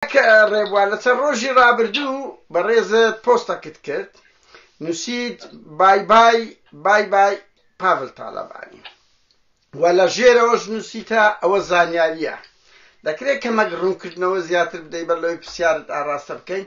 کاک ڕێبوار لە چەند ڕۆژی ڕابردوو بەڕێزت پۆستەکت کرد نووسیت بای بای بای بای پاڤل تاڵەبانی و لە ژێرەوەش نووسیتە ئەوە زانیارییە دەکرێت کەمەک ڕوونکردنەوە زیاتر بدەی بەر لەوەی پرسیارت ئاراستە بکەین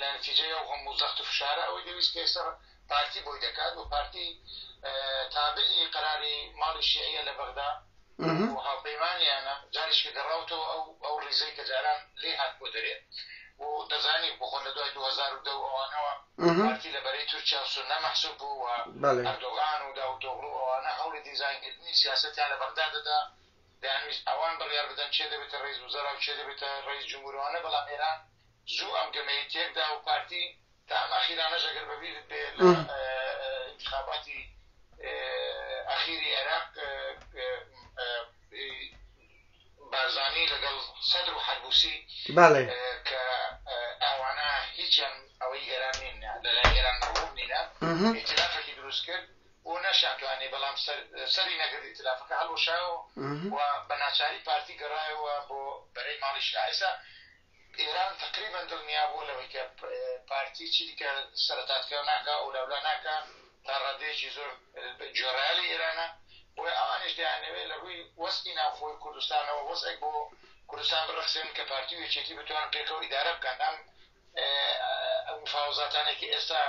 لە نتیجەی ئەو هەموو زەخت و فشارە ئەوەی دەویست پێسەر پارتی بۆی دەکات و پارتی تابعی قەراری ماڵی شیعە لە بەغدا و هاوپەیمانیانە جاریش کە گەڕاوتەوە ئەو ئەو ریزەی کە جاران لێ هات بۆ دەرێ بۆ دەزانی بخۆ لە دوای 2010 ئەوانەوە پارتی لە بەرەی تورکیا و سنە مەحسوب بوو و ئەردۆغان و داوتۆغلو ئەوانە هەوڵی دیزاینکردنی سیاستیان لە بەغدا دەدا دەیانویست ئەوان بڕیار بدەن چێ دەبێتە ڕیز وزەرا و چێ دەبێتە ڕیز جمهورەوانە بەڵام ئێران زوو ئەم گەمەی تێک دا و پارتی تا ئەم ئەخیرانەش ئەگەر بە بیرت بێ لە ئینتخاباتی ئەخیری عێراق بارزانی لەگەڵ سەدر و حەلبوسی بەڵێ کە ئەوانە هیچیان ئەوەی ئێران نین لەلای ئێران مەغرور نینە ئیتلافێکی دروست کرد بۆ نەشانتوانێ بەڵام سەری نەگرد ئیتلافەکە هەڵوەشایەوە و بە ناچاری پارتی گەڕایەوە بۆ بەرەی ماڵی شایسا ئێران تەقریبەن دڵنیابووە لەوەی کە پارتی چیدیکە سەرەتادکراو ناکا ئەولاولا ناکا تا ڕادەیەکی زۆر گوێڕایە لە ئێرانە بۆیە ئەوانیش دەیانەوێ لە ڕووی وەزعی ناوخۆی کوردستانەوە وەزعێک بۆ کوردستان بڕەخسێنن کە پارتی و یەکێتی بتوانن پێکەوە ئیدارە بکەن ئەم مفاوزاتانەی کە ئێستا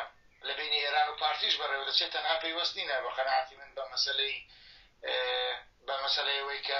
لە بینی ئێران و پارتیش بەڕێوە دەچێت تەنها پەیوەست نینە بە قەناعەتی من بە مەسەلەی بە مەسەلەیەوەی کە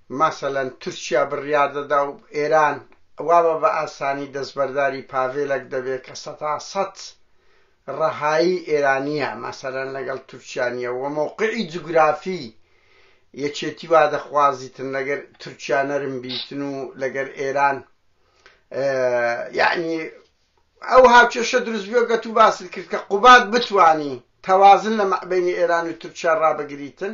مەسەلەن تورکیا بڕیار دەدا و ئێران وابە بە ئاسانی دەستبەرداری پاڤێلەک دەبێ کە سەتا سەت ڕەهایی ئێرانییە، مەسەلەن لەگەڵ تورکیا نییە و مەوقعی جوگرافی یەکێتی وا دەخوازیتن لەگەر تورکیا نەرم بیتن و لەگەر ئێران یەعنی ئەو هاوکێشە دروست بووە گەت و باست کرد کە قوباد بتوانی تەوازن لە مەعبەینی ئێران و تورکیا ڕابگریتن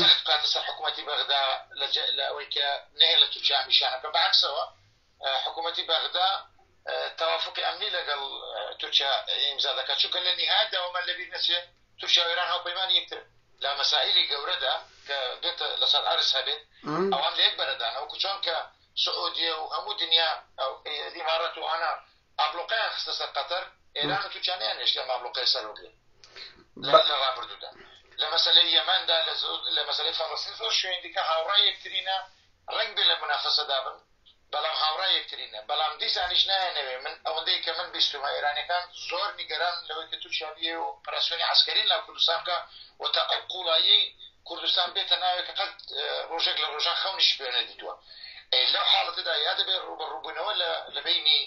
زەخت بکاتە سەر حکوومەتی بەغدا لە ئەوەی کە نەیە لە تورکیا ئەم ئیشانە بکەن، بەعەکسەوە حکوومەتی بەغدا تەوافوقی ئەمنی لەگەڵ تورکیا ئیمزا دەکات، چونکە لە نیهایەتدا وەمان لەبیر نەچێ تورکیا و ئێران هاوپەیمانی یەکترن لە مەسائیلی گەورەدا کە بێتە لەسەر عەرز هەبێت ئەوان لە یەک بەرەدانە، وەکو چۆنکە سعودیە و هەموو دنیا ئیمارات و ئانا ئابڵوقەیان خستە سەر قەتەر ئێران و تورکیا نەیانهێشت ئەم ئابڵوقەیە سەر بگرن لە ڕابردوودا لە مەسەلەی یەمەندا لە مەسەلەی فەڵەستین زۆر شوێن دیکە هاوڕای یەکترینە ڕەنگ بێ لە منافەسەدا بن بەڵام هاوڕای یەکترینە بەڵام دیسانیش نایەنەوێ من ئەوەندەی کە من بیستمە ئێرانەکان زۆر نیگەران لەوەی کە تورکیا بێ و پراسیۆنی عسکەری لە کوردستان بکە و تا ئەو قوڵایی کوردستان بێتە ناوێک کە قەت ڕۆژێک لە ڕۆژان خەونیش پێ نەدیتووە لەو حاڵەتەدا یا دەبێت ڕوبەڕووبوونەوە لە بینی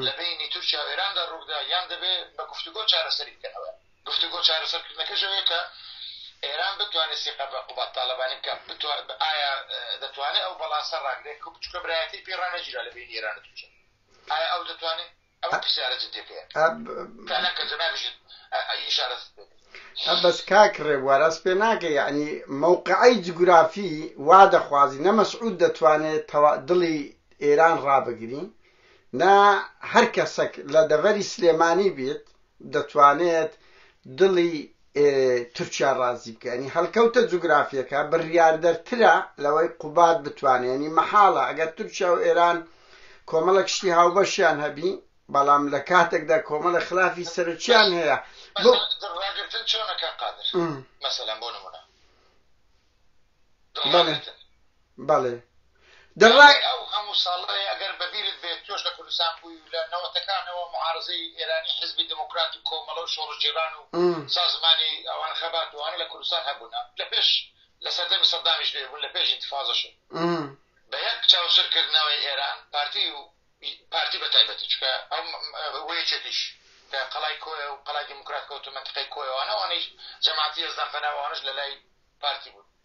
لە بینی تورکیا و ئێراندا ڕوودا یان دەبێت بە گفتوگۆ چارەسەری بکەنەوە گفتوگۆ چارەسەرکردنەکەشەوەیە کە ئێران بتوانێت سیقە بە قوبات تاالبانی بکە ئایا دەتوانێت ئەو بەڵاسە ڕاگرێت بچکە برایەتی پێڕانەگیرا لە بینی ئێرانە تورکیا ئایا ئەو دەتوانێت ئەمە پرسیارە جدیەکەیە تا لە کەسە نابژیت ئیشارەت بەس کاک ڕێبوار ئەس پێ ناکە یعنی مووقعی جگرافی وا دەخوازی نە مەسعود دەتوانێت دڵی ئێران ڕابگری نە هەر کەسەک لە دەڤەری سلێمانی بیت دەتوانێت دڵی تورکیا ڕازی بکە ینی هەڵکەوتە جوگرافیەکە بڕیاردەرترە لەوەی قوباد بتوانێت ینی مەحاڵە ئەگەر تورکیا و ئێران کۆمەڵە کشتی هاوبەشیان هەبی بەڵام لە کاتێکدا کۆمەڵە خلافی سەرچیان هەیە بۆ ڕاگرتن چۆنەکە قادر مەسەلەن بۆ نمونە بەڵێ دەڵێ. دوای ئەو هەموو ساڵەی ئەگەر بە بیرت بێت تۆش لە کوردستان بووی و لە نەوەتەکانەوە معارەزەی ئێرانی حیزبی دێمۆکرات و کۆمەڵە و شۆڕشگێڕان و سازمانی ئەوانە خەبات و ئەوانە لە کوردستان هەبوونە لە پێش لە سەردەمی سەدامیش لێ بوون لە پێش ئینتفازەش و بە یەک چاوسر کردنەوەی ئێران پارتی و پارتی بە تایبەتی چونکە ئەو و یەکێتیش کە قەڵای کۆیە و قەڵای دێمۆکرات کەوتو مەنتقەی کۆیەوانە ئەوانەیش جەماعەتی یەزدان فەنا و ئەوانەش لە لای پارتی بوون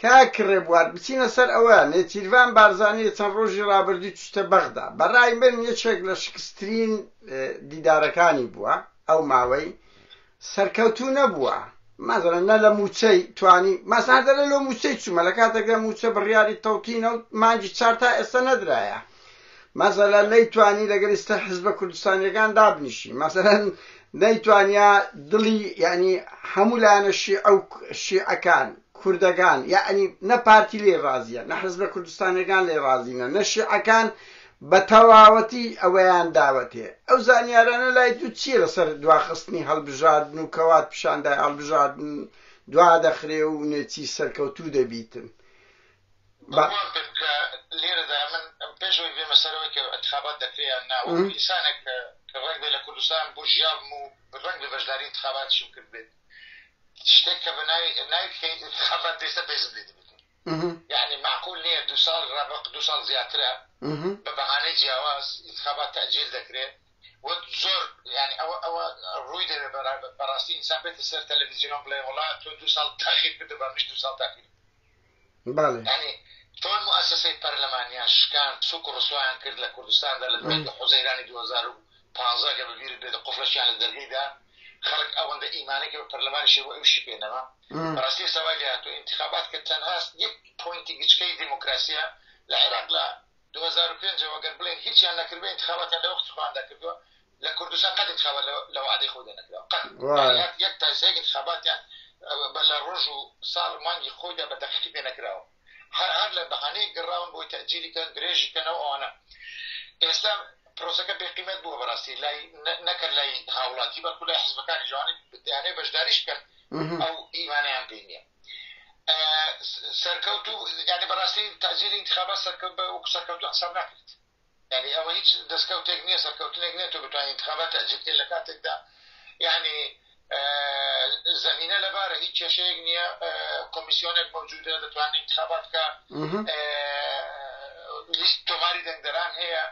کاک ڕێبوار بچینە سەر ئەوە، نێچیرڤان بارزانی چەند ڕۆژی ڕابردوو چوویتە بەغدا، بە ڕای من یەکێک لە شکسترین دیدارەکانی بووە ئەو ماوەی، سەرکەوتوو نەبووە، مەسەلەن نە لە مووچەی توانی، مەسەلەن هەر دەڵێ لۆ مووچەی چوومە، لە کاتێکدا مووچە بڕیاری تەوتینە و مانگی چوار تا ئێستا نەدرایە، مەسەلەن نەیتوانی لەگەڵ ئیستە حزبە کوردستانییەکان دابنیشی، مەسەلەن نەیتوانیا دڵی یانی هەموو لایەنە شیعە و شیعەکان، کوردەگان یەعنی نە پارتی لێی ڕازیە نە حزبە کوردستانیەگان لێی ڕازینە نە شیعەکان بە تەواوەتی ئەوەیان داوەتێ ئەو زانیارانە لای تو چیە لە سەر دواخستنی هەڵبژاردن و کە وات پیشان دای هەڵبژاردن دوا دەخرێ و نێچی سەرکەوتوو دەبیتن بە. بڕوام پێ بکە لێرەدا من پێش ئەوەی بێمە سەرەوەی کە ئەنتخابات دەکرێ یان نا وەکو ئینسانێک کە ڕەنگبێ لە کوردستان بوژیابم و ڕەنگبێ بەشداری ئینتخاباتیشم کردبێت شتێک کە بە ناوی ناوی بکەیت خەڵات بێسە بێزم لێ دەبێت یعنی معقول نییە دو ساڵ ڕەبق دو ساڵ زیاترە بە بەهانەی جیاواز انتخابات تەجیل دەکرێت وەک زۆر ینی ئەوە ئەوە ڕووی دەوێ بەڕاستی ئینسان بێتە سەر تەلەڤزیۆن بڵێ وڵات تۆ دو ساڵ تاخیر کردو بە مش دو ساڵ تاخیر بەڵێ. یانی چۆن موئەسەسەی پەرلەمانیان شکاند، سووک و ڕسوایان کرد لە کوردستاندا لە دوای دە حوزەیرانی دوو هەزار و پازدە ئەگەر بە بیرت بێت قفڵەشیان لە دەرگەی دا، خەڵک ئەوەندە ئیمانەی کە بە پەرلەمانیشی بوو ئەویشی پێ نەما. بەڕاستی ئێستا وای لێ هاتووە ئینتیخابات کە تەنها یەک پۆینتی گچکەی دێمۆکراسییە لە عێراق لە دوو هەزار و پێنج ەوە گەر بڵێن هیچیان نەکردبێ ئینتخاباتیان لە وەختی خۆیان دەکردووە لە کوردستان قەت ئینتخابات لە وەعدەی خۆی دەنەکراوە قەت وای. یان یەک تا سێک ئینتخاباتیان ئەوە بە لە ڕۆژ و ساڵ و مانگی خۆیدا بە دەقیقی پێ نەکراوە هەر هەر لە بەهانەیەک گەڕاون بۆی تەئجیلی کەن درێژی کەنەوە ئەوانە ئێستا پرۆسەکە بێقیمەت بووە بەڕاستی لای نە- نەکەر لای هاوڵاتی بەڵکو لای حزبەکانی جوانی دەیانەوێ بەشداریش بکەن مهم. ئەو ئیمانەیان پێ نییە سەرکەوت و یعنی بەڕاستی تاجیلی انتخابات سەرکەوت بە وەکو سەرکەوتو حساب ناکرێت یعنی ئەوە هیچ دەستکەوتێک نییە سەرکەوتنێک نێت و بتوانین انتخابات تاجیلکە لە کاتێکدا یعنی زمینە لەبارە هیچ کێشەیەک نییە کۆمیسیۆنێک مەوجودە دەتوانین انتخابات کە لیست تۆماری دەنگدەران هەیە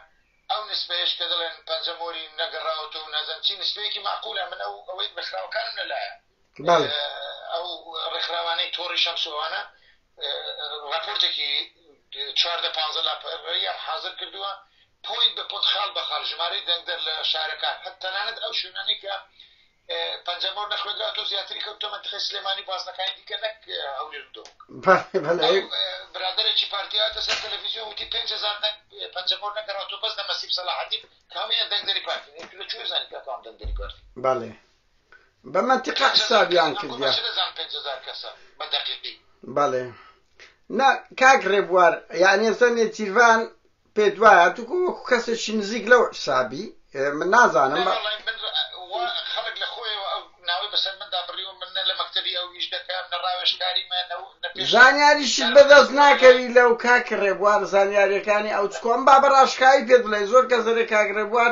ئەو نسبەیەش کە دەڵێن پەنجەمۆری نەگەڕاوەوە و نەزەنچی نسبەیەکی معقولە من ئەو ئەوەی بەخراوەکانم لەلایە بەڵێ ئەو ڕێکخراوانەی تۆڕی شەمس و ئەوانە ڕاپۆرتێکی چواردە پانزە لاپەڕەیان حازر کردووە پۆین بە پۆنت خاڵ بە خاڵ ژمارەی دەنگدەر لە شارەکان هەر تەنانەت ئەو شوێنانەی کە پەنجەمۆر نەخوێنرا تۆ زیاتری کەوتە منتخی سلێمانی بازنەکانی دیکە نەک هەولێر و دۆک برادێکی پارتیاتە سەر تەلەڤیزیۆن وتی پێ هزار دەنگ پەنجەمۆر نەگەڕاتۆ بەس دە مەسیب سەلاحەتی کامیان دەنگدەری پارتی لە چێ زانانی کە کام دەنگدەری پارتی بەڵێ بە مەنتیقە حسابیان کردیە بەڵێ نا کاک ڕێبوار یانێ زەنێ جیرڤان پێ دوایە توکو وەکو کەسێکی نزیک لەو حسابی من نازانم بە خەڵک لە خۆیەوە ئەو ناوەی بەسەر مندا بڕیوە من نە لە مەکتتەبی ئەو ویش دەکەم نە ڕاوێشکاری زانیاریش بەدەست ناکەوی لەو کاک ڕێبوار زانیاریەکانی ئەو چکۆم با بە ڕاشکایی پێ بڵێ زۆر کە زەرێ کاک ڕێبوار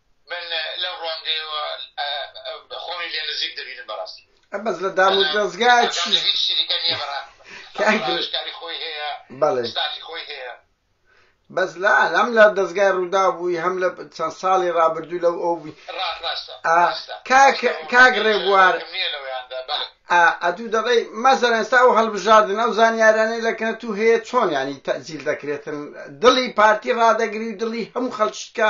من لەو ڕوانگەیەوە خۆمی لێ نزیک دەبینم بەڕاستی بەس لە دام و دەستگاچی کاری خۆی هەیە بەڵێ ستافی خۆی هەیە بەس لا هەم لە دەستگای ڕوودا بووی هەم لە چەند ساڵی ڕابردوو لەو ئەو بووی کاک ڕێبوار ئەدوو دەڵێ مەزەر ئێستا ئەو هەڵبژاردن ئەو زانیارانەی لەکنە تو هەیە چۆن ینی تەزیل دەکرێتن دڵی پارتی ڕدەگری و دڵی هەموو خەڵکیکە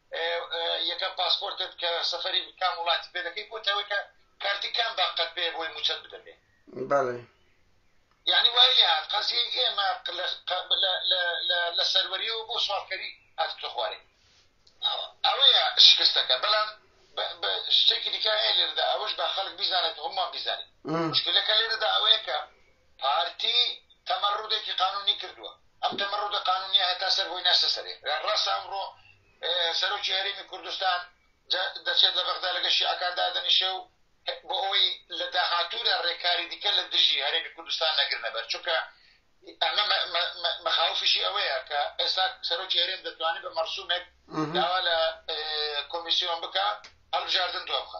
یەکەم پاسپۆرتت کە سەفەری کام وڵاتی پێ دەکەی بۆتەوەی کە کارتی کام باقەت پێ بۆی موچەت بدەبێ بەڵێ یعنی وای لێ هات قەزیە ئێمە لە سەروەریەوە بۆ سوالکەری هات کە خوارێ ئەوەیە شکستەکە بەڵام شتێکی دیکە هەیە لێرەدا ئەوەش بە خەڵک بیزانێت هەمووان بیزانێت مشکلەکە لێرەدا ئەوەیە کە پارتی تەمەڕودێکی قانونی کردووە ئەم دەمە ڕەوتە قانونیە هەتا سەر بۆی ناسە سەرێ ڕاستە ئەمڕۆ سەرۆکی هەرێمی کوردستان دەچێت لە بەغدا لەگە شیعەکان دادەنیشێ و بۆ ئەوەی لە داهاتوودا ڕێکاری دیکە لە دژی هەرێمی کوردستان نەگرنە بەر چونکە ئەمە مەخاوفیشی ئەوەیە کە ئێستا سەرۆکی هەرێم دەتوانێت بە مەرسومێک داوا لە کۆمیسیۆن بکە هەڵبژاردن دوا بخە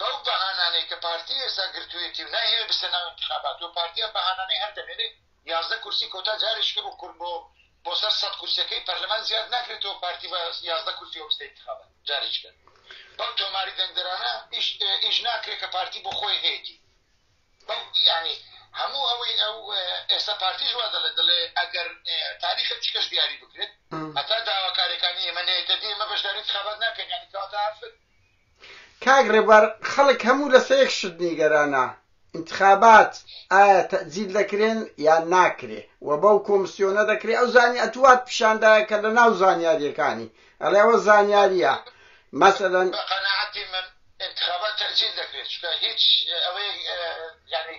بەو بەهانانەی کە پارتی ئێستا گرتویەتی و نایهەوێ بچتە ناو ئینتخابات و پارتی ئەم بەهانانەی هەر دەمێنێ یازدە کورسی کۆتا جارێکی کە بۆ کورد بۆ بۆ سەر سەد کورسیەکەی پەرلەمان زیاد ناکرێتەوە پارتی بە یازدە کورسیەوە بچتە ئینتخابات جارێکی کە بەم تۆماری دەنگدەرانە ئیش ئیش ناکرێت کە پارتی بۆ خۆی هەیەتی بەم یعنی هەموو ئەوەی ئەو ئێستا پارتیش وا دەڵێ دەڵێ ئەگەر تاریخە چکەش دیاری بکرێت هەتا داواکارەکانی ئێمە نێتە دێمە بەشداری انتخابات ناکەین یعنی کەواتە هەر کاک ڕێبوار خەڵک هەموو لە سەر یەک شت نیگەرانە ئینتخابات ئایا تەئجیل دەکرێن یان ناکرێ و بەو کۆمسیۆنە دەکرێ ئەو زانی ئەتوو وات پیشان دایە کە لە ناو زانیاریەکانی ئەڵێ ئەوە زانیاریە مەسەلەن بە قەناعەتی من ئینتخابات تەئجیل دەکرێ چونکە هیچ ئەوەیەک یانی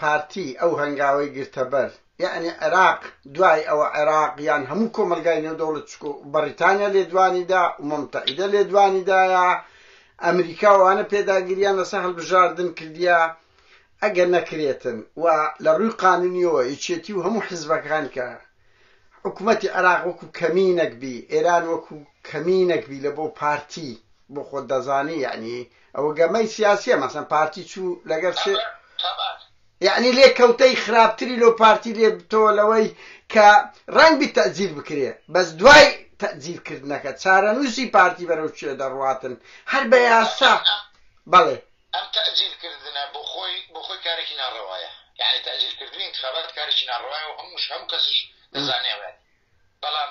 پارتی ئەو هەنگاوەی گرتەبەر یەعنی عێراق دوای ئەوە عێراق یان هەموو کۆمەلگای نێودەوڵەت چکو بەڕیتانیا لێدوانیدا ئومەمتەحیدە لێدوانیدایە ئەمریکا ئەوانە پێداگریان لەسەر هەلبژاردن کردیە ئەگەر نەکرێتن و لەڕووی قانونیەوە یەکێتی و هەموو حزبەکان کە حکومەتی عێراق وەکو کەمینەک بی ئێران وەکو کەمینەک بی لەبۆ پارتی بۆ خۆت دەزانی یەعنی ئەوە گەمەی سیاسیە مەسەن پارتی چوو لەگەر سێ یعنی لێ کەوتەی خراپتری لۆ پارتی لێ بتەوە لەوەی کە ڕەنگ بی تەجیل بکرێ بەس دوای تەجیل کردنەکە چارەنووسی پارتی بەرەو کوێ دەڕواتن هەر بە یاسا بەڵێ ئەم تەجیل کردنە بۆ خۆی بۆ خۆی کارێکی ناڕەوایە یعنی تەجیل کردنی انتخابات کارێکی ناڕەوایە و هەمووش هەموو کەسیش دەزانێ بەڵام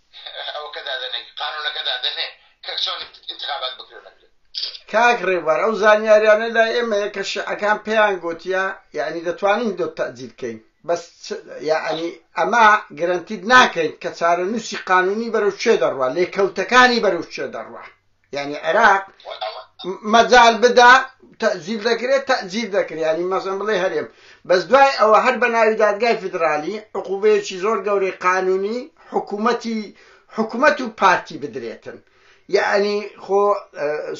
ئەوەکە دادەنێ قانونەکە دادەنێ کە چۆن انتخابات بکرێ نەکرێت کاک ڕێبوار ئەو زانیاریانە لا ئێمەیە کە شعەکان پێیان گوتیە یعنی دەتوانین دۆ تەجیل کەین بەس یعنی ئەمە گرنتید ناکەین کە چارە نووسی قانونی بەرەو چێ دەڕوە لێکەوتەکانی بەرەو چێ دەڕوە یانی عێراق مەجال بدا تەجیل دەکرێت تەجیل دەکرێت ینی مەزم بڵێ هەرێم بەس دوای ئەوە هەر بە ناوی دادگای فیدرالی عقوبەیەکی زۆر گەورەی قانونی حکوومەتی حکوومەت و پارتی بدرێتن یعنی خۆ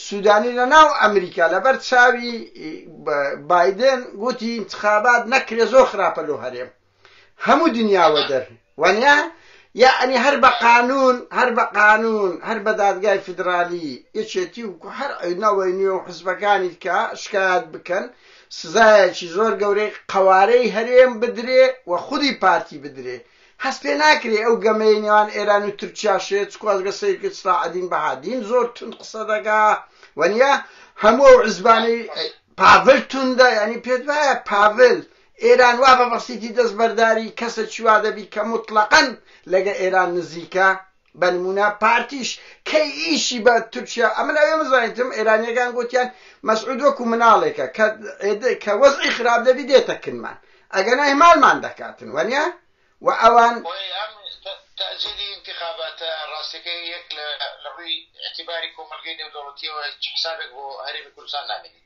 سوودانی لە ناو ئەمریکا لەبەر چاوی بادن گوتی انتخابات نەکرێ زۆر خراپە لۆ هەرێم هەموو دنیا وەدەر وەنیە یەعنی هەر بە قانوون هەر بە قانوون هەر بە دادگای فیدرالی یەکێتی و هەر نەوەی نوێ و حزبەکانی دکە شکایەت بکەن سزایەکی زۆر گەورەی قەوارەی هەرێم بدرێ و خودی پارتی بدرێ هەست پێ ناکرێ ئەو گەمەی نێوان ئێران و تورکیا شێت چکوازگە سەیرکرد سراعدین بەهادین زۆر تون قسە دەگا وەنیە هەموو ئەو عزبانەی پاڤل توندە ینی پێت وایە پاڤل ئێران وا بە بەسیتی دەستبەرداری کەسە چی وا دەبی کە موتڵەقەن لەگە ئێران نزیکە بە نموونە پارتیش کەی ئیشی بە تورکیا ئەمن ئەوێ مزانیتم ئێرانیەکان گوتیان مەسعود وەکو مناڵێکە کە کە وەزعی خراپ دەبی دێتە کنمان ئەگەنا هێمالمان دەکاتن وەنیە و ئەوان تەجیلی انتخاباتە ڕاستەکە یەک لە ڕووی اعتباری کۆمەلگەی نێودەوڵەتیەوە حسابێک بۆ هەرێمی کوردستان نامێنی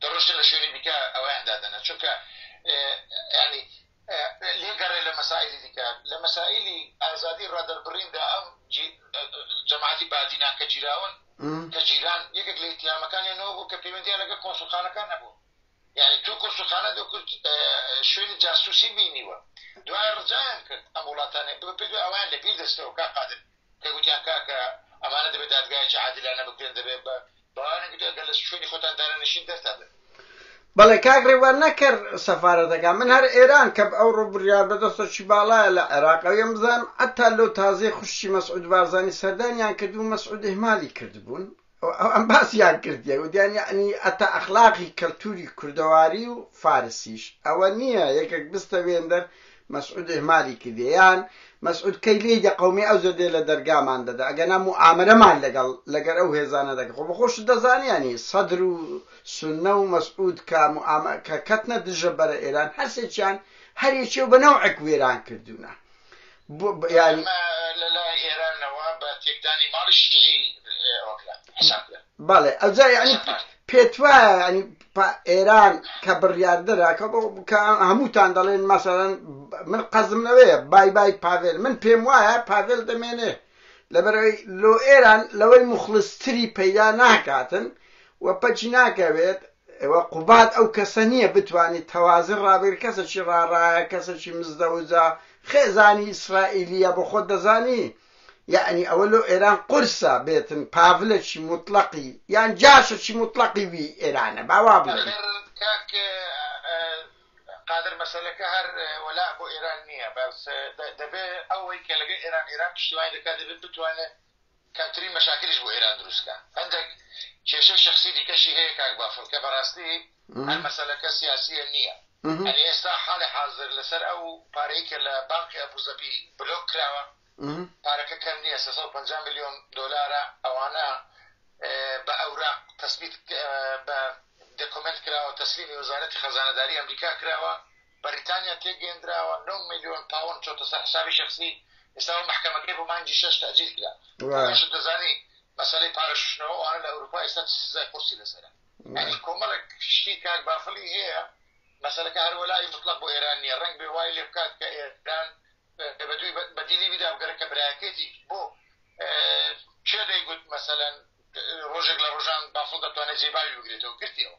دەڕۆشتە لە شوێنی دیکە ئەویان دادەنا چونکە یانی لێ گەڕێ لە مەسائلی دیکە لە مەسائلی ئازادی ڕادەربڕیندا ئەم جەماعەتی بادینان کە جیراون کە جیران یەکێک لە ئیتهامەکانیان نەوە بوو کە پەیوەندیان لەگە کۆنسوخانەکان نەبوو یعنی تو کۆنسوخانە دو کرد شوێنی جاسوسی بینیوە دوای ڕجایان کرد ئەم وڵاتانێ بە پێ ئەویان لە بیر دەستەوە کا قادر کە گوتیان کاکە ئەمانە دەبێت دادگایەکی عادلانە بکرێن دەبێت بە بەوانە گوتیان گەر لە شوێنی خۆتان دارەنشین دەرتان دەبێت بەڵێ کاک ڕێوان نەکەر سەفارەتەکە من هەر ئێران کە ئەو ڕۆ بڕیار بەدەستەکی باڵایە لە عێراقەویم بزانم ئەتا لەو تازەی خوشکی مەسعود بارزانی سەردانیان کردبوو مەسعود ئیهمالی کردبوون ئەم باسیان کردیە گوتیان یعنی ئەتا ئەخلاقی کەلتوری کوردەواری و فارسیش ئەوە نییە یەکێک بستە وێندەر مەسعود ئهمالی کردیە یان مەسعود کەی لێی دە قەومی ئەو زەردەیە لە دەرگامان دەدا ئەگەنا موئامەرەمان لەگەڵ لەگەر ئەو هێزانە دەکە خۆ بەخۆشت دەزانی یانی سەدر و سنە و مەسعود کە موئامە کە کەتنە دژە بەرە ئێران هەرسێکیان هەر یەکێ و بە نەوعێک وێران کردوونە ئەمە لە لای ئێرانەوە بە تێکدانی ماڵی شیعی ئەوە کرا، حساب کرا. بەڵێ ئەوجا یعنی پێت وایە ینی ئێران کە بڕیاردەرە کە هەمووتان دەڵێن مەسەرەن من قەزم لەوەیە بای بای پاڤێل من پێم وایە پاڤێل دەمێنێ لەبەرەوەی لۆ ئێران لەوەی مخلستری پەیدا ناکاتن و پەچی ناکەوێت ئێوە قوباد ئەو کەسە نیە بتوانی تەوازن ڕابگری کەسەکی ڕاڕایە کەسەکی مزدەوجە خێزانی ئیسرائیلیە بۆخۆت دەزانی یەعنی ئەوە لۆ ئێران قورسە بێتن پاڤلەکی موتڵەقی یان جاشەکی موتڵەقی وی ئێرانە با وا بڵێن. ئەخر کاک قادر مەسەلەکە هەر وەلاء بۆ ئێران نیە بەس دەبێ ئەوەی کە لەگەڵ ئێران ئێران پشتیوانی دەکات دەبێ بتوانێ کەمترین مەشاکلیش بۆ ئێران دروست بکا هەندەک کێشەی شەخسی دیکەشی هەیە کاک بافڵ کە بەڕاستی هەر مەسەلەکە سیاسیە نیە ئەنی ئێستا حالی حازر لەسەر ئەو پارەی کە لە بانقی ئەبوزەبی بلۆک کراوە پارەکە کەم نیە سێ سەد و پەنجا ملیۆن دۆلارە ئەوانە بە ئەوراق تەسبیت بە دەکۆمێنت کراوە تەسلیمی وەزارەتی خەزانەداری ئەمریکا کراوە بەریتانیا تێگەیەندراوە نۆ ملیۆن پاوەند چۆتە سەر حسابی شەخسی ئێستا و مەحکەمەکەی بۆ مانگی شەش تەئجیل کرا ئەوەشت دەزانی مەسەلەی پارە شوشتنەوە ئەوانە لە ئەوروپا ئێستا چ سزای قورسی لەسەرە یانی کۆمەڵێک شتی کاک بافڵی هەیە مەسەلەکە هەر وەلایی مطلق بۆ ئێران نییە ڕەنگ بێ وای لێ بکات کە ئێران بە دووی بەدیلی بیدا بگەرە کە برایەکەیەتی بۆ کێ دەیگوت مەسەلەن ڕۆژێک لە ڕۆژان بافڵ دەتوانێت جێی باوی بگرێتەوە گرتیەوە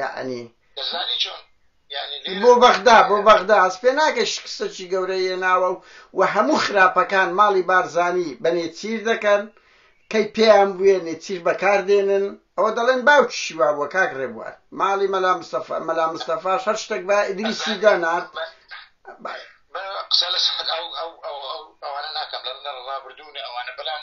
یەعنی دەزانی چۆن یەعنی لێرە بۆ بەغدا بۆ بەغدا هەست پێ ناکەی شکستەکی گەورەی هێناوە و و هەموو خراپەکان ماڵی بارزانی بە نێچیر دەکەن کەی پێیان بووێ نێچیر بەکار دێنن ئەوە دەڵێن باوکیشی وا بووە کاک ڕێبوار ماڵی مەلا مستەفا مەلا مستەفاش هەر شتێک بە ئیدریسی دەنارد بە- بە قسە لەسەر ئەو ئەو ئەو ئەو ئەوانە ناکەم لە لە ڕابردوونە ئەوانە بەڵام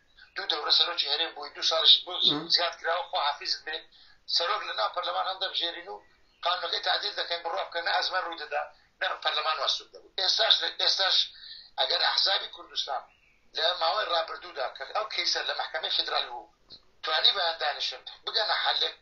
دوو دەورە سەرۆکی هەرێم بووی دوو ساڵیش بۆ زیاد کراوە خۆ حافیزت بێ سەرۆک لە ناو پەرلەمان هەڵدەبژێرین و قانونەکەی تعدیل دەکەین بڕوا بکەن نە ئەزمە ڕوو دەدا نە پەرلەمان واسوود دەبوو ئێستاش ئێستاش ئەگەر ئەحزابی کوردستان لە ماوەی ڕابردوودا کە ئەو کەیسە لە محکمەی فیدرال بوو توانی بەیان دانیشن بگەنە حلێک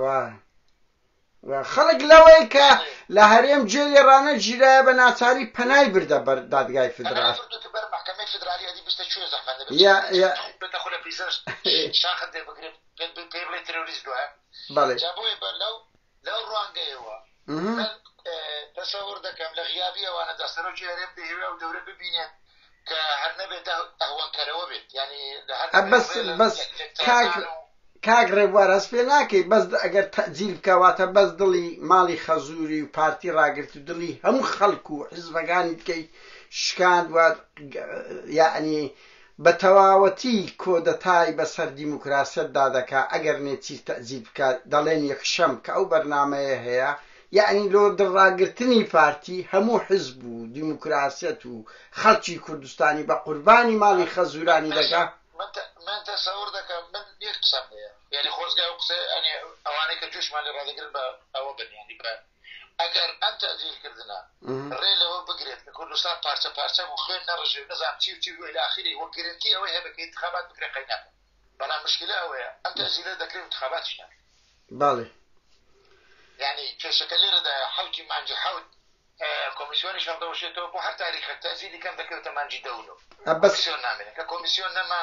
وا وا خەڵک لەوەی کە لە هەرێم جێ لێ ڕانە گیرایە بە ناچاری پەنای بردە بەر دادگای فدرال بەڵێ لەو ڕوانگەیەوە من تەسەور دەکەم لە غیابی ئەوانەدا سەرۆکی هەرێم دەیەوێت ئەو دەورە ببینێت کە هەر نەبێت ئەهوەنکەرەوە بێت ینی بەس بەس کاک ڕێبوار هەست پێ ناکەی بەس ئەگەر تەجیل بکەواتە بەس دڵی ماڵی خەزووری و پارتی ڕاگررت و دڵی هەموو خەڵکو و حیزبەکانی بکەیت شکاند وات یعنی بە تەواوەتی کۆدەتای بە سەر دیموکراسیەت دا دەکا ئەگەر نێچیر تەئزیر بکا دەڵێن یەکشەم کە ئەو بەرنامەیە هەیە یەعنی لۆ دڵ ڕاگرتنی پارتی هەموو حزب و دیموکراسیەت و خەڵکی کوردستانی بە قوربانی ماڵی خەزورانی دەکا من تە من تەسەور دەکەم من یەک قسەم هەیە یەعنی خۆزگە ئەو قسە یەعنی ئەوانەی کە جوشمان لێ ڕادەگرن بە ئەوە بن یەعنی بە ئەگەر ئەم تەعدیلکردنە ڕێ لەوە بگرێت کە کوردستان پارچە پارچە بوو خوێن نەڕژێ و نەزانم چی و چی و الی اخره وە گرنتی ئەوەی هەبێت کە ئینتخابات بکرێ قەی ناکەم بەڵام مشکلە ئەوەیە ئەم تەعدیلە دەکرێ و انتخاباتیش ناکرێ بەڵێ یعنی کێشەکە لێرەدایە حەوتی مانگی حەوت کۆمیسیۆنیش هەڵدەوەشێتەوە بۆ هەر تاریخێک تەعدیلی کەم دەکەوێتە مانگی دە و نۆ ئەبەس کۆمیسیۆن نامێنێت کە کۆمیسیۆن نەما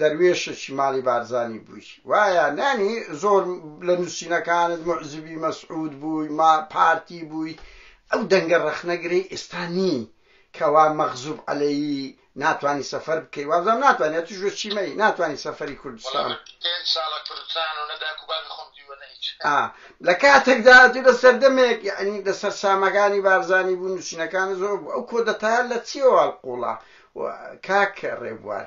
دەروێشەکی ماڵی بارزانی بووی وایە نانی زۆر لە نووسینەکانت موعجبی مەسعود بووی ما پارتی بووی ئەو دەنگە ڕەخنەگرەی ئێستا نی کەوا مەغزوب عەلەیی ناتانی سەفەر بکەی وابزانم ناتانی ئەتوش بە چیمەی ناتانی سەفەری کوردستان ئا لە کاتێکدا تو لە سەردەمێک یعنی لە سەرسامەکانی بارزانی بوو نووسینەکان زۆر بوو ئەو کۆدەتایە لە چیەوە هەڵقوڵا کاک ڕێبوار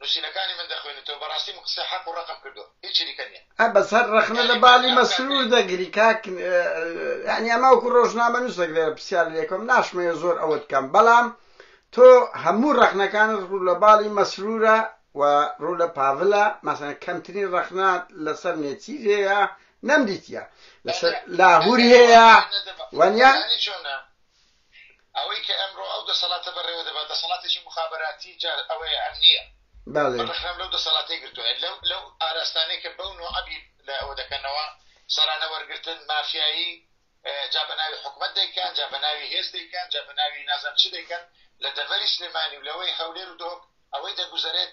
نوسینەکانی من دەخوێنیتەوە بەڕاستی من قسەی حەق و ڕەقم کردوە هیچ چریکە نیە. ئە بەس هەر ڕەخنە لە بالی مەسرور دەگری کاک یانی ئەمە وەکو ڕۆژنامەنوسێک لێرە پرسیار لێ کەم ناشمەوێ زۆر ئەوەت کەم بەڵام تۆ هەموو ڕەخنەکانت ڕوو لە باڵی مەسرورە و ڕوو لە پاڤلە مەسەن کەمترین ڕەخنە لەسەر نێچیر هەیە نەمدیتە لەسەر لاهور هەیە وەنیا ئەوەی کە ئەمڕۆ ئەو دەسەڵاتە بەڕێوە دەبات دەسەڵاتێکی مخابراتی جار ئەوەیە ئەم نییە بەڕخنم لەو دەسەڵاتی گرتوە لەو لەو ئاراستانەی کە بەو نوعبی لە ئەوە دەکەنەوە سەرانە وەرگتن مافیایی جا بە ناوی حکوومەت دەیکەن جا بە ناوی هێز دەیکەن جا بە ناوی نازم چ دەیکەن لە دەڤەری سلێمانی و لەوەی هەولێر و دۆک ئەوەی دەگوزارێت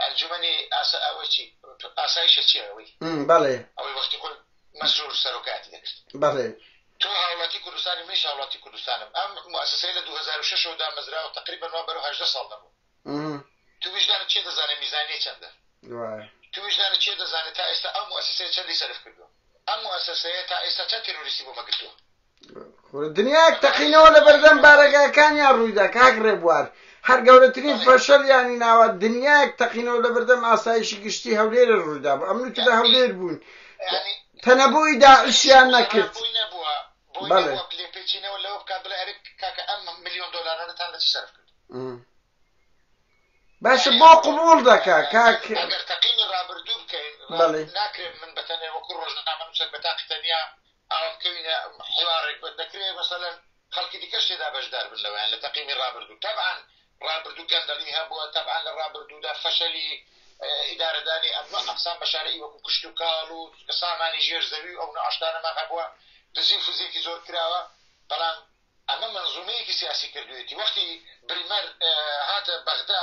ئەنجومەنی ئاسا ئەوەی چی ئاسایشە چیە ئەوەی م، بەڵێ. ئەوەی وەختی خۆی مەسرور سەرۆکایەتی دەکرد. بەڵێ. تۆ هاوڵاتی کوردستانی منیش هاوڵاتی کوردستانم ئەم موئەسەسەیە لە دوو هەزار و شەش ەوە دامەزراوە تەقریبەن وا بەرەو هەژدە ساڵ دەڕوات. م. تو ویژدانت چیە دەزانێ میزانیەی چەندە؟ وایە. تو ویژدانت چیە دەزانێ تا ئێستا ئەو موئەسەسەیە چەندی سەرف کردوە؟ ئەم موئەسەسەیە تا ئێستا چەند تێرۆریستی بۆمە گرتوە؟ دنیاک تەقینەوە لە بەردەم بارەگاکانیان ڕوویدا کاک ڕێبوار هەر گەورەترین فەشەلیانی ناوە دنیاک تەقینەوە لە بەردەم ئاسایشی گشتی هەولێرە ڕوویدا بە ئەمن تدا هەولێر بوون تەنەبووی داعشیان نەکرد بەڵێ لێپێچینەوە لەوە بکات بڵێ ئەرک کاکە ئەم میلیۆن دلارانەتان لە چی سەرف کرد باشە بۆ قوبول دەکە کاک تەقینی ڕابردوو بکەین بەڵێ ناکرێت من بەتەنێ وەکو ڕۆژنامە نووسەر بە تاقی تەنیا ئاوا بکەوینە حیوارێک بن دەکرێ مەسەلەن خەڵکی دیکەش تێدا بەشدار بن لەوەیان لە تەقیمی ڕابردوو تەبعەن ڕابردوو گەندەڵی هەبووە تەبعەن لە ڕابردوودا فەشەلی ئیدارەدانی ئەمنۆ ئەقسام بە شارەی وەکو کشت و کاڵ و سامانی ژێر زەوی و ئەو نۆع شتانەمان هەبووە دزی و فزیەکی زۆر کراوە بەڵام ئەمە مەنزومەیەکی سیاسی کردوێتی وەختی بریمەر هاتە بەغدا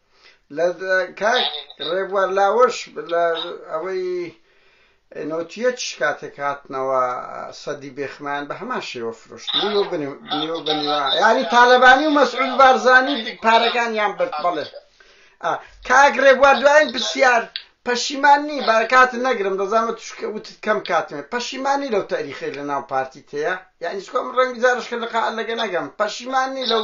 لە کاک ڕێبوار لاوەش لە ئەوەی نۆتیەت شکاتێک هاتنەوە سەدی بێخمان بە هەمان شێوە فرۆشت نیو بنیوا یاری تالەبانی و مەسعود بارزانی پارەکان یان برد بڵێ کاک ڕێبوار دوایین پرسیار پەشیمان نی بارکات نەگرم دەزانمە توشکە وتت کەم کاتمێ پەشیمانی لەو تاریخی لە ناو پارتی تەیە یعنی چکۆم ڕەنگی زارشکە لەقا لەگە نەگەم پەشیمانی لەو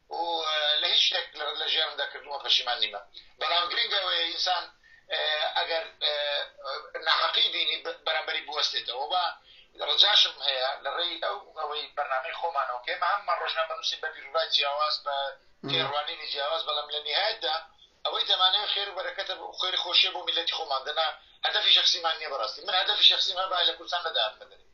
و لە هیچ شتێک لە ژیانمدا کردوومە پەشیمان نیمە بەڵام گرنگ ئەوەیە ئینسان ئەگەر ناحەقی بینی بەرامبەری بوەستێتەوە و ڕجاشم هەیە لە ڕێی ئەو ئەوەی بەرنامەی خۆمانەوە کە ئێمە هەموومان ڕۆژنامە بنووسین بە بیروڕای جیاواز بە تێڕوانینی جیاواز بەڵام لە نیهایەتدا ئەوەی دەمانەوێت خێر و بەرەکەتە خێری خۆشیە بۆ میلەتی خۆمان دەنا هەدەفی شخصیمان نییە بەڕاستی من هەدەفی شخصیم هەبا لە کوردستان نەدایان بەدەرێ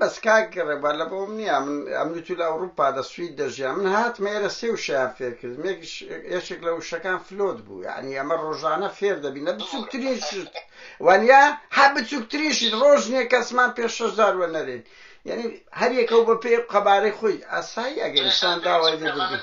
بەس کاک ڕێبوار لە بۆم نییە من ئەمریکی لە ئەوروپا دە سوید دەژیا من هاتمە ئێرە سێ وشەیان فێر کردم یەکێک لە وشەکان فلۆت بوو یعنی ئەمە ڕۆژانە فێر دەبینە بچووکترین شت وانە هە بچووکترین شت ڕۆژ نییە کەسمان پێ شەشدار وە نەرێن یعنی هەریەکە و بە پێ قەبارەی خۆی ئاسایی ئەگەنسان داوای لێ بردن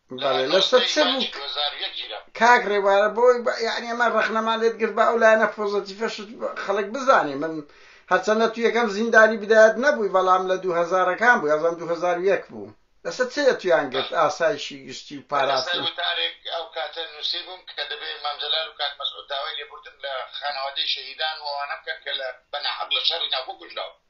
بەڵێ لە سەر چ بوو کاک ڕێوارە بۆی یعنی ئەمە ڕخنەمان لێت گرت بە ئەو لایەنە پۆزەتیفەشت خەڵک بزانێ من هەرچەندە تو یەکەم زیندانی بدایەت نەبووی بەڵام لە دوو هەزارەکان بوو یازان دوو هەزار و یەک بوو لەسەر چێ تویان گرت ئاسایشی گشتی و پاراستن وتارێک ئەو کاتە نووسی بووم کە دەبێت مامجلال و کاک مەسعود داوای لێبوردن لە خانەوادەی شەهیدان و ئەوانە بکەن کە لە بەناحەق لە شەڕی ناوخۆ کوژراون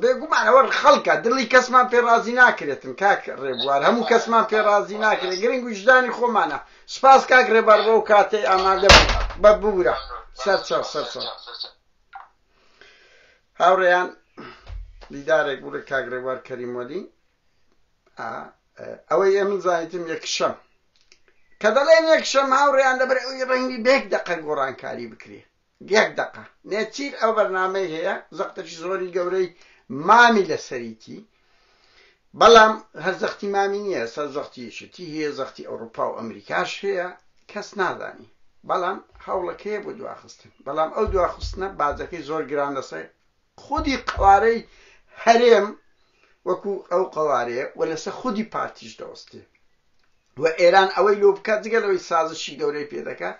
بێگومان ئەوە خەڵکە دڵی کەسمان پێ ڕازی ناکرێتن کاک ڕێبوار هەموو کەسمان پێ ڕازی ناکرێت گرنگ ویژدانی خۆمانە سپاس کاک ڕێبار بۆ کاتەی ئامادە بە بورە سەرچاو سەرچاو هاوڕێیان دیدارێک بوو لە کاک ڕێبار کەریمۆلی ئەوەی ئێ من زانیتم یەکشەم کە دەڵێن یەکشەم هاوڕێیان لەبەر ئەوی ڕەنگی بێک دەقە گۆڕانکاری بکرێ یەک دەقە. نێچیر ئەو بەرنامەی هەیە زەقتەکی زۆری گەورەی مامی لەسەریتی بەڵام هەر زەختی مامی نییە ئێستا زەختی یەکێتی هەیە زەختی ئەوروپا و ئەمریکاش هەیە کەس نازانی بەڵام هەوڵەکەیە بۆ دواخستن بەڵام ئەو دواخستنە باجەکەی زۆر گران لەسەر خودی قەوارەی هەرێم وەکو ئەو قەوارەیە و لەسەر خودی پارتیش دەوەستێ و ئێران ئەوەی لۆ بکا جگە لەوەی سازشی گەورەی پێ دەکا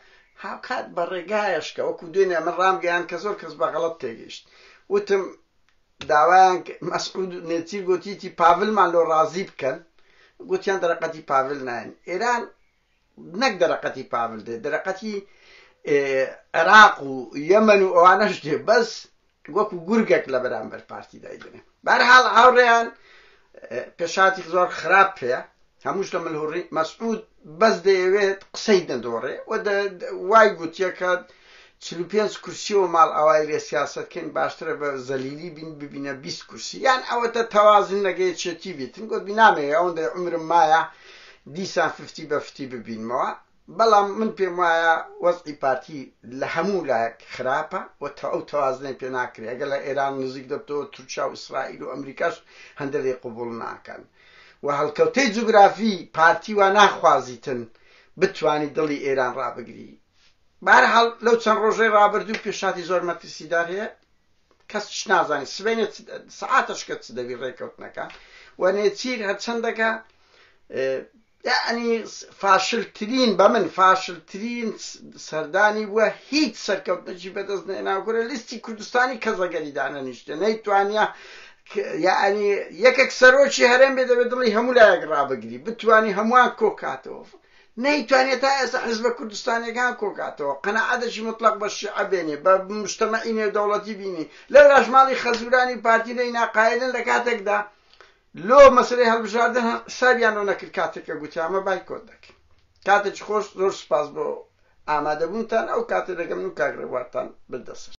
هاوکات بە ڕێگایەش کە وەکو دوێنێ من ڕامگەیاند کە زۆر کەس بە غەڵەت تێگەیشت وتم داوایان مەسعود و نێچیر گۆتیتی پاڤلمان لۆ ڕازی بکەن گۆتیان دەرەقەتی پاڤل نایەن ئێران نەک دەرەقەتی پاڤل دێ دەرەقەتی عێراق و یەمەن و ئەوانەش دێ بەس وەکو گورگەک لە بەرامبەر پارتی دایدنێ بەرحاڵ هاوڕێیان پێشاتی زۆر خراپ پێە هەمووش لە ملهوڕی مەسعود بەس دەیەوێت قسەی دەدۆڕێ وای گوتیەکە چل و پێنج کورسی و ماڵ ئاوای لێ سیاسەت کەین باشترە بە زەلیلی بین ببینە بیست کورسی یان ئەوەتە تەوازن لەگە یەکێتی بیتن گۆتبی نامەوێ ئەوەندەی عومرم مایە دیسان ففتی بە فتی ببینمەوە بەڵام من پێم وایە وەزعی پارتی لە هەموو لایەک خراپە و تە ئەو تەوازنەی پێ ناکرێ ئەگەر لە ئێران نزیک دەبتەوە تورکیا و ئیسرائیل و ئەمریکاش هەندە لێ قبوڵ ناکەن و هەڵکەوتەی جوگرافی پارتی وا ناخوازیتن بتوانی دڵی ئێران ڕابگری بەهەرحاڵ لەو چەند ڕۆژەی ڕابردوو پێشهاتی زۆر مەترسیدار هەیە کەس چ نازانێت سبەینێ سعاتەش کە چ دەبی ڕێکەوتنەکە و نێچیر هەرچەندەکە یعنی فاشلترین بە من فاشلترین سەردانی بووە هیچ سەرکەوتنەجی بەدەست نێناگورە لیستی کوردستانی کەزەگەری دانە نیشتە نەیتوانە یعنی یەکێک سەرۆکی هەرێم بێ دەبێت دڵی هەموو لایەک ڕابگری بتانی هەمووان کۆکاتەوە نەیتوانیە تا ئێستا حیزبە کوردستانیەکان کۆکاتەوە قەناعەتێکی مطلەق بە شیعە بێنێ بە مجتەمەعی نێودەوڵەتی بینی لەولاش ماڵی خەزورانی پارتی لێی ناقایلن لە کاتێکدا لۆ مەسەلەی هەڵبژاردن هەر حسابیان لۆ نەکرد کاتێک کە گوتی ئەمە بایکۆت دەکەین کاتێکی خۆش زۆر سوپاس بۆ ئامادەبوونتان ئەو کاتێ دەگەمن و کاک ڕێبوارتان بدەسەر